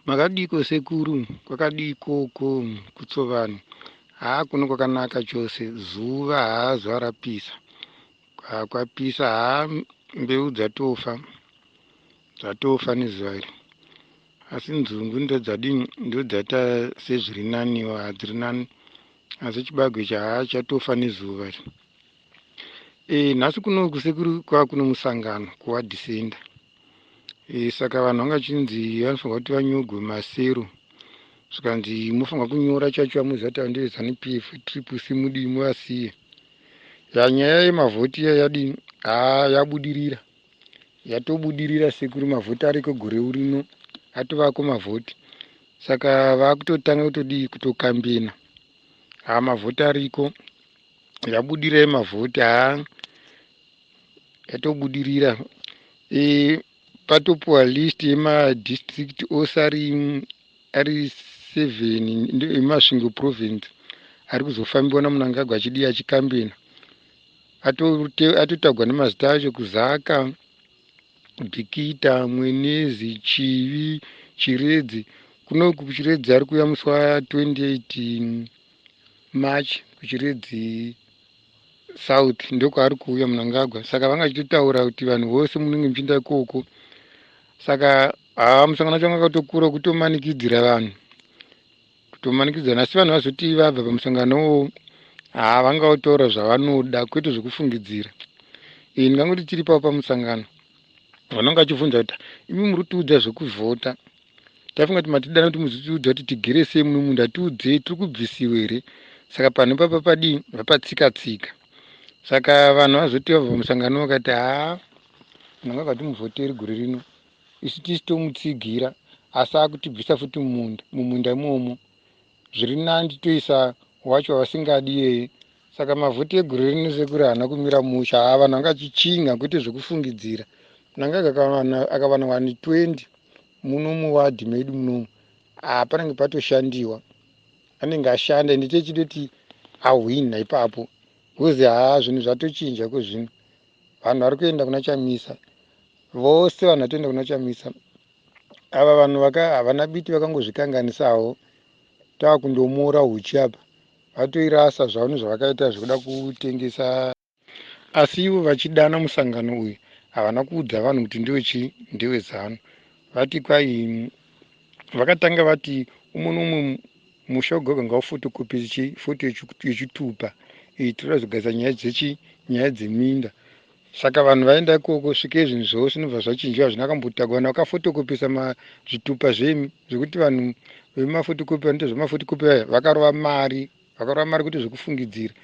Makadiko sekuru kwakadii ikoko kutsovani haa kuno kwakanaka chose zuva haa zuva rapisa haa kwapisa haa mbeu dzatofa dzatofa nezuva iri asi nzungu ndodzadii ndodzata sezviri naniwo hadziri nani asi chibagwe ichi haa chatofa nezuva iri e nhasi kuno kusekuru kwava kuno musangano kuwadhisenda e, saka vanhu vanga chinzi vanofanirwa kuti vanyogwe masero zvikanzi mofanirwa kunyora chacho vamuziva kuti vandive zanu p f triple c mudii muvasiye ya nyaya yemavhoti iya yadii haa yabudirira yatobudirira sekuru mavhoti ariko gore urino atovako mavhoti saka vakutotanga kutodii kutokambina haa mavhoti ariko yabudirai mavhoti haa yatobudirira e, patopuwa list yemadistrict ose ari ari seven emasvingo province ari kuzofambiwa namunangagwa achidii achikambena atotagwa nemazita acho kuzaka bikita mwenezi chivi chiredzi kuno kuchiredzi ari kuuya musi wa 28 march kuchiredzi south ndokwaari kuuya munangagwa saka vanga chitotaura kuti vanhu vose munenge muchiinda ikoko saka haa musangano wacho vanga katokura kutomanikidzira vanhu kutomanikidzana asi vanhu vazoti vabva pamusangano wo haa vanga votaura zvavanoda kwete zvekufungidzira iyi ndingangoti tiri pavo pamusangano vanonga vachivhunza kuti imi muri kutiudza zvekuvhota Taifunga kuti matidana kuti muzitiudza kuti tigere sei muno munhu atiudzei tiri kubvisiwa here saka panhu ipapa padii vapatsika tsika saka vanhu vazoti vabva musangano vakati haa munhu anga vatimuvhoteri gore rino isu tisi tomutsigira asi akutibvisa futi mumunda mumunda imomo Zviri nandi toisa wacho vasingadi yeye saka mavhoti egore rino sekuru haana kumira musha haa vanhu vanga chichinha kwete zvekufungidzira mnangagwa akawana wani 20 muno muwadhi medu munomu haa panenge patoshandiwa anenge ashanda ende techidoti ahwinha ipapo bcause haa zvinhu zvatochinja ko zvino vanhu vari kuenda kuna chamisa vose vanhu vatoenda kuna chamisa ava vanhu vaka havana biti vakangozvikanganisawo tava kundomuora huchi apa vatoirasa zvavo nezvavakaita zvekuda kutengesa asi ivo vachidana musangano uyu havana kuudza vanhu kuti ndiwe chii ndiwe zanu vati kwai vakatanga vati umwe noumwe musha wegoga ngaufotokopi chi foto yechitupa iyi tinoda zogadzira nyaya dzechi nyaya dzeminda Saka vanhu vaenda ikoko svike zvinhu zvose zvinobva zvachinjiwa hazvina kambotagwa vanhu vakafotokopesa zvitupa zvemi zvekuti vanhu vemafotokopi vanoita zvemafotokopi vaya vakarova mari vakarova mari kuti zvekufungidzira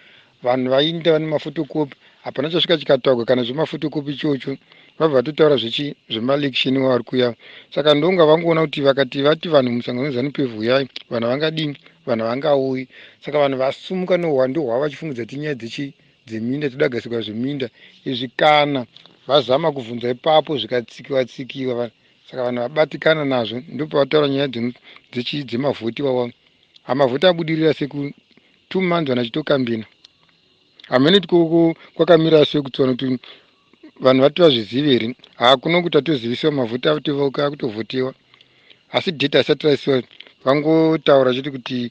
vanhu vainda vane mafotokopi hapana chasvika chikatagwa kana zvemafotokopi ichocho vabva vatotaura zvechi zvemaelection wavari kuya saka ndonga vangoona kuti vakati vati vanhu musangano wezanup vuyai vanhu vangadini vanhu vangauyi saka vanhu vasumuka nohwando hwavo vachifungidzira tinyaya dzechi dzeminda dzodagadzirwa zveminda izvi kana vazama kuvhunza ipapo zvikatsikiwa tsikiwa saka vanhu vabatikana nazvo ndopavataura nyaya dzemavhoti wawa amavhoti abudirira seku two months vanhu vachitokambina hamene tikoko kwakamira asi wekutsona kuti vanhu vati vazvizive here haa kuno kuti atozivisiwa mavhoti akutovauka akutovhotewa asi date asati raisiwa vangotaura chete kuti